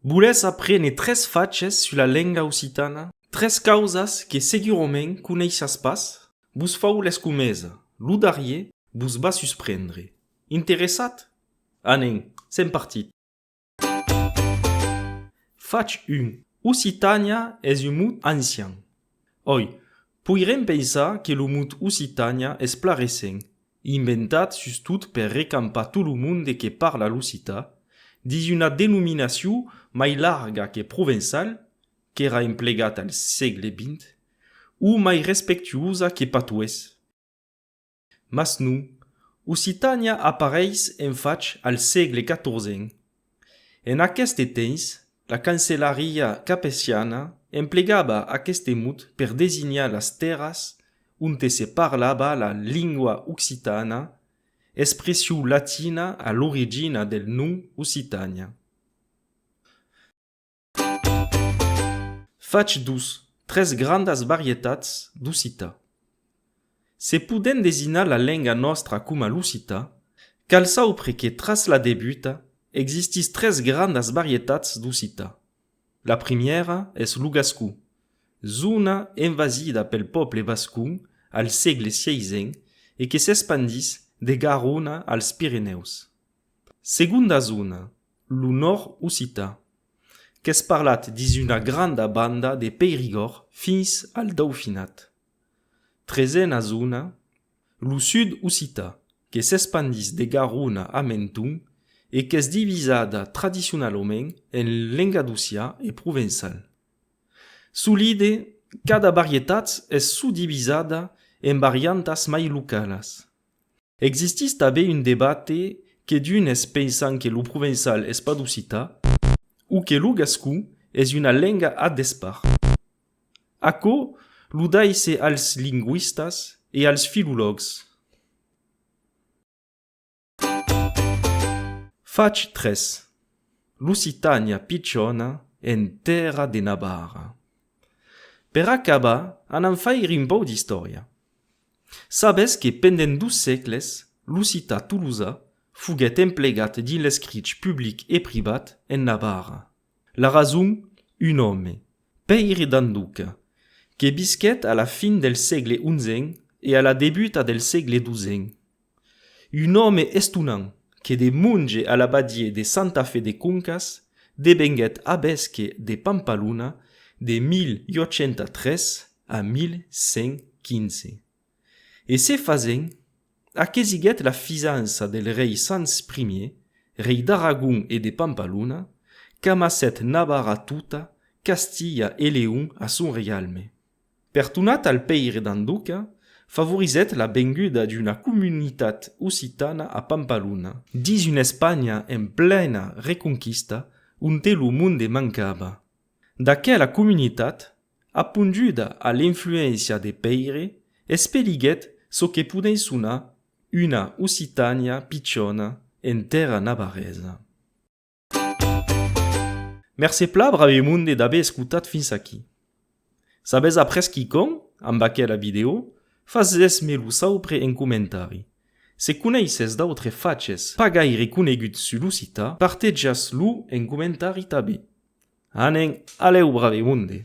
Volètz aprene tres faches sus la lenga occitana? Tres causas que segurament coneissatz pas? Vos fau l'escomesa, lo darrier vos va susprendre. Interessat? Anen, sèm partit! Fach 1, Occitània es un mot ancian. Oi, poirem pensar que lo mot Occitània es pla recent, Inventat sustot per recampar tot lo monde que parla l'ocità, dins una denominacion mai larga que provençal, qu'èra emplegat al sègle vint, o mai respectuosa que patois. Mas non, Occitània apareis en fach al sègle quatorzèn, En aqueste temps, la cancelariá capetiana emplegava aqueste mot per designar las tèrras onte se parlava la lingua occitana, expression latina a l'origina del nom Occitània. Fach dus, tres grandas varietats d'occitan. Se podent desinar la lenga nòstra coma l'occitan, cal saupre que tras la debuta existís tres grandas varietats d'occitan. La primièra es lo gascon, zona envasida pel pòble vascon al sègle xvii e que s'espandís de Garona als Pirenèus. Segonda zona, lo nòrd-occitan, qu'es parlat dins una granda banda de Peirigòrd fins al Daufinat. Tresena zona, lo sud-occitan, que s'espandís de Garona a Menton e qu'es divisada tradicionalament en lengadocià e provençal. Solide, cada varietat es suddivisada en variantas mai localas. Existís tanben un debate que d'unes pensan que lo provençal es pas d'occitan o que lo gascon es una lenga a despart. Aquò lo daisse als lingüistas e als filològs. Fach 3. L'occitània pichona en tèrra de Navarra. Per acabar, anam faire un pauc d'istòria. Sabes que pendent dos sègles l'occità tolosa foguèt emplegat dins l'escrich public e privat en Navarra. La rason? Un òme, Pèire d'Anduca, que visquèt a la fin del sègle onzen e a la debuta del sègle dosen, Un òme estonant que de monge a l'abadié de Santa Fe de Concas devenguèt avesque de Pampaluna de 1803 a 1115. E se fasent, aquesiguèt la fisança del rei Sanç Ier, rei d'Aragon e de Pampaluna, qu'amassèt Navarra tota, Castilha e Leon a son reialme. Per tornar al Pèire d'en Duca, favorizèt la venguda d'una comunitat occitana a Pampalhona. Dins una Espanha en plena reconquista, onte lo monde mancava, d'aquela comunitat, aponduda a l'influéncia de Pèire, espeliguèt çò que podèm sonar una Occitània pichona en tèrra navarresa. Mercé pla brave monde d'aver escotat fins aquí. S'avètz après quicòm amb aquela vidèo, fasètz-me lo saupre en comentari. Se coneissètz d'autres faches pas gaire coneguts sul occità, partetjatz-lo en comentari tanben. Anen, alèu brave monde!